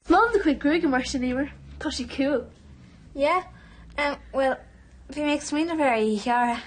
Is maith liom do chuid gruaige mar sin, Emer. Tá sí cool. Yeah, um, well, bhí mé ag smaoineamh ar í a ghearradh.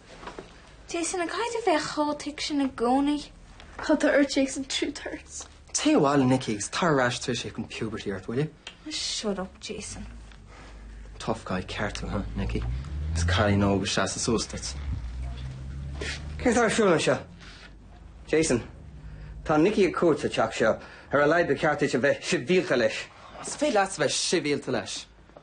Jason, an gcaithfidh tú a bheith chomh thick sin i gcónaí. Cad atá ort, Jason? Truth hurts. Téigh abhaile Nicky agus tar ar ais tar éis teacht an puberty ort, will you. Shut up, Jason. Tough guy, ceart tú, huh, Nicky? Is cailín óg ag seasamh suas duit. Céard atá ar siúl anseo? Jason, Tá Nicky ar cuairt sa teach seo. Ar a laghad ba cheart duit a bheith sibhialta leis. Is féidir leatsa a bheith sibhialta leis.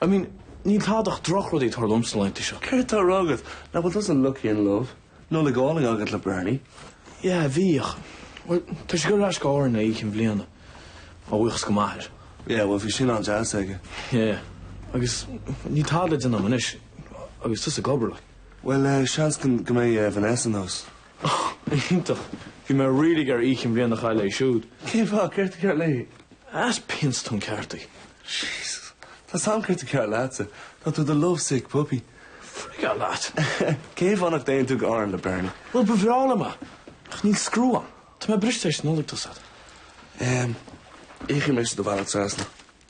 I mean, níl tada ach drochrudaí ag tarlú liom sna laethanta seo. Céard atá á rá agat? Nach bhfuil tusa lucky in love. Nollaig álainn agat le Bernie. Yeah, bhí ach, bhuel, tá sé ag dul ar ais go hÁrainn le oíche chinn bhliana. A bhuíochas do m'athair. Yeah, bhuel, bhí sin an-deas aige. Yeah, agus níl tada le déanamh agam anois agus tusa ag obair, like. Bhuel, eh, seans go mbeidh eh, Vanessa anuas. Oh, iontach! Bhí mé really ag iarraidh oíche chinn bhliana a chaitheamh léi siúd. Cén fáth? Céard atá cearr léi? Is pian sa tóin ceart í. Jesus! Tá a fhios agam céard atá cearr leatsa. Tá tú i do lovesick puppy. Frig off leat! Cén fáth nach dtéann tú go hÁrainn le Bernie? Bhuel, ba bhreá liom é, ach níl scriú agam. Tá mé briste tar éis an Nollaig, tá a fhios agat. Ehm, íocfaidh mise do bhealach trasna.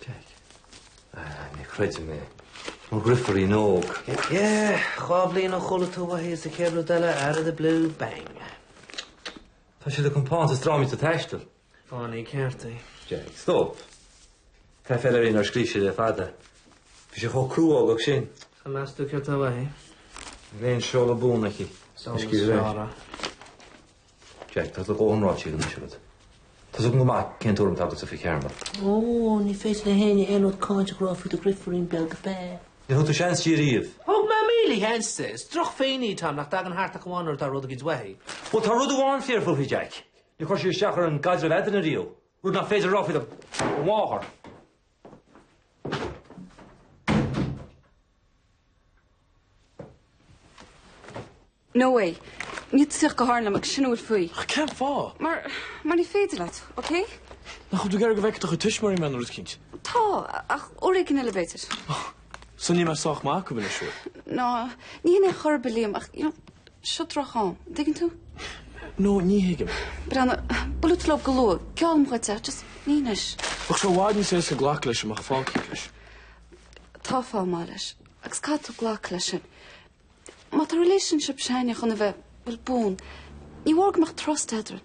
Téigh. Ah, ní chreidim é. Mo dheirfiúirín óg. Yeah, dhá bhliain ó chuala tú uaithi is an chéad rud eile out of the blue, bang. Tá sí le compántas drámaíochta ag taisteal. Fánaí ceart í. Jack, stop. Tá aiféala uirthi nár scríobh sí le fada. Bhí sí chomh cruógach sin. An meas tú céard tá uaithi? An bhfuil aon seoladh buan aici. Seoladh sciorra. Jack, Tá tú chomh hiomráití ag an dtuiseal duit. Tá a fhios agam go maith cén tuairim atá agatsa fúithi, Carmel. Ó, ní féidir le héinne aon rud cáinteach a rá faoi do dheirfiúirín beag féin. Ní thug tú seans di ariamh. Thug mé míle sheans di. Is droch-phenny atá ann nach dtagann thart ach amháin nuair atá rud éicint uaithi. Bhuel, tá rud amháin fíor fúithi, Jack. Ní chuir sí isteach ar an gcaidreamh eadrainn ariamh, rud nach féidir a rá faoi do mháthair. No way. Níl tú ag tíocht go hÁrainn liom, agus sin a bhfuil faoi. Ach cén fáth? Mar, mar ní féidir leat, ok? Nach bhfuil tú ag iarraidh go bhfeicfeadh do chuid tuismitheoirí mé, nó rud éicint? Tá, ach, uair éigin eile b'fhéidir. So níl mé sách maith acu ansiúd. No, ní shin é chor ar bith, Liam, ach, you know, seo drocham. An dtuigeann tú? No, ní thuigim, Bernie. Buailfidh tú leo go luath. Geallaim dhuit, ach just, ní anois. Ach seo i bhfad níos éasca glacadh leis dá mbeadh fáth éicint leis. Tá fáth maith leis. Agus caithfidh tú glacadh leis sin. Má tá relationship s'againne chun a bheith, bhuel, buan, ní mór go mbeadh trust eadrainn.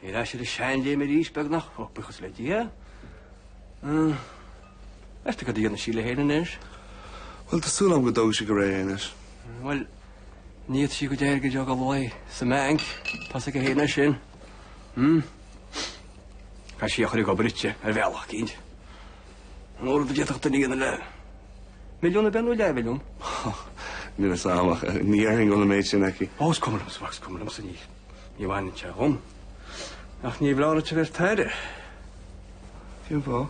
Ar ais ar an seanléim arís, beagnach, ó, buíochas le Dia. Meas tú céard a dhéanfaidh sí léi féin anois? Bhuel, tá súil agam go dtógfaidh sí go réidh anois. Bhuel, ní fhéadfaidh sí a cuid airgid a dhoigh sa mbeainc, tá sí go héireann as sin. Caithfidh sí é a chur ag obair di, ar bhealach eicínt. An mór rud a d'fhéadfadh duine a dhéanamh le milliún a bhean nó leathmhilliún? Níl a fhios a'm ach ní déarfainn go bhfuil an méid sin aici. Ó, is cuma liomsa, Max, is cuma liomsa, níl. Ní bhaineann sé dhom. Ach níorbh fholáir duit a bheith ar t'aire. Fiú bhó.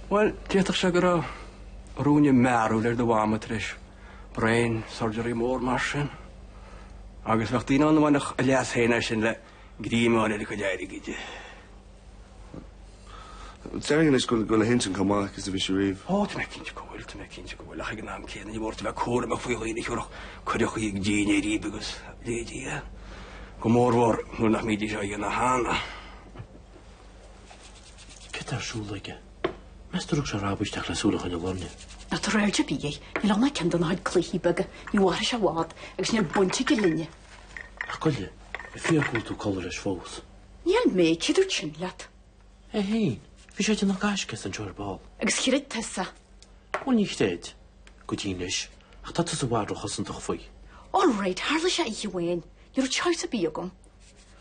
Bhuel, d'fhéadfadh sé go raibh ruainne mearbhaill ar do mhama tar éis brain surgery mór mar sin. Agus bheadh daoine ann a bhainfeadh a leas féin as sin le greim a fháil ar a cuid airgid. Déarfainn anois go bhfuil a hintinn chomh maith agus a bhí sí riamh. Ó, tá mé cinnte go bhfuil, tá mé cinnte go bhfuil ach ag an am céanna ní mór duit a bheith cúramach faoi dhaoine a chuirfeadh cuireadh ag dinnéar uirthi agus a leithéidí, go mórmhór, nuair nach mbídís á dhéanamh cheana. Céard atá ar siúl aige? Meas tú ar bhog sé ar ais isteach le súil a choinneáil orainn. Ná tabhair aird ar bith air, níl ann ach ceann dá chuid cluichí beaga, ní mhairfidh sé i bhfad agus níl baint aige linne. Ach goile, an fíor go bhfuil tú ag codladh leis fós. Níl mé. Cé a dúirt é sin leat? É féin. Bhí sé ag déanamh gaisce anseo ar ball. Agus chreid tusa é. Bhuel, níor chreid go dtí anois, ach tá tusa i bhfad róchosantach faoi. All right, tharla sé oíche amháin. Ní raibh choice ar bith agam.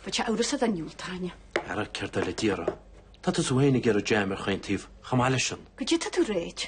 Bheadh sé amhrasach dá ndiúltóinn é. Ara, céard eile a déarfá? Tá tusa féin ag iarraidh jam ar chaon taobh chomh maith leisean. Go dtitfidh tú réidh.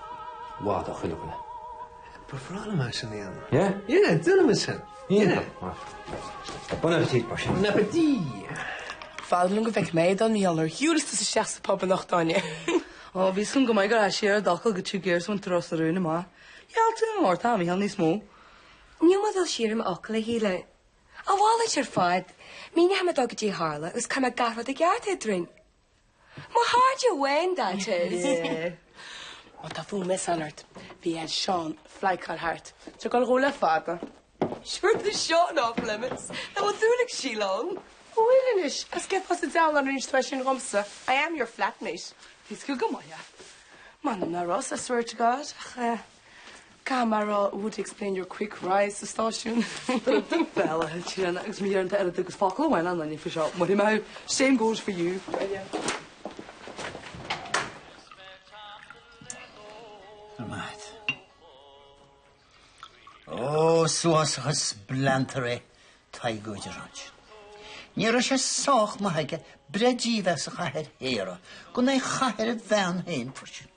Bhfad a chuile dhuine. Ba bhreá liom é sin a dhéanamh. Yeah? Yeah, déanfaidh mé sin. Yeah. Bon appetit, mar sin. Bon appetit! B'fhearr liom go bhfeicfeadh mé é don Mhiolar shiúil isteach sa pub anocht, Áine. Ó, bhí a fhios agam go mbeadh tú ag dul siar ar d'fhocal go Two Gears One Thrust an rún amach. Ghealltaí an Lord Tom a sheol níos mó. Níl mé ag dul siar ar m'fhocal, a Shíle. A mhalairt ar fad. Míneoidh mé dó goidé a tharla agus cuirfidh mé gach rud i gceart eadrainn. My heart your wayne that is. Má tá fúm i san ort. Bhí Ed Seán flaighteáil thart. Seo go dhó le fada. Sure tá Seán off limits. Tá mo shúil ag síleadh ann. Ó bhuel anois, as gceitheá sa diabhal an roinnt toise sin dhomsa. I am your flatmate. Bhí sciúg go maith leat. M'anam ná Ross, I swear to God, ach eh. Caithfidh mé a rá, it would explain your quick rise sa stáisiún? Bhel, a thuig sin, agus má deireann tú oiread agus focal amháin le héinne faoi seo, maróidh mé thú. Same goes for you. Ar maith. Ó, is uafásach an spleantar é Tadhg Ó Direáin. Ní raibh sé sách maith aige breith dímheas a chaitheamh ar shaora gan é a chaitheamh ar a bhean féin freisin.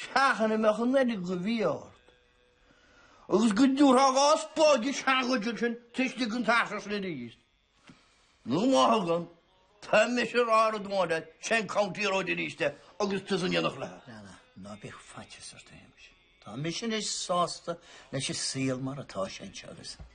Seachain a mbeadh an fhearg a bhí ort, agus go dtabharfá an spáid sa ngualainn ansin tar éis di an teach a chur síos. Nó má thugann, tá mise ag rá rud amháin leat, sin í an County Road arís de agus tusa in éineacht léi. Ná, ná, ná bíodh faitíos ort, a Shéamais. Tá mise anois sásta leis an saol mar atá sé anseo agus.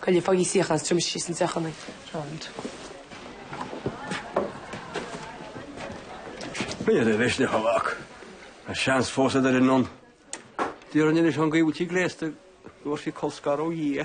Cailleadh fágtha síos an teach ionainn. Round. Ná caill do mhisneach a mhac. Tá seans fós go dtarraingeoinn. D'iarr an inis an go bhfuil sí gléasta. Dúirt sí colscaradh ó Dhia.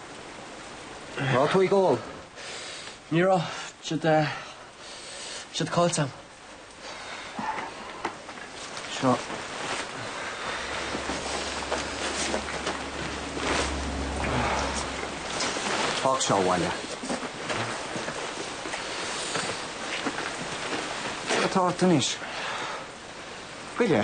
Tá tú ag ól? Ní raibh. Siad eh, siad caillte. Seo. Fág seo abhaile. Atá tunis. Cuide.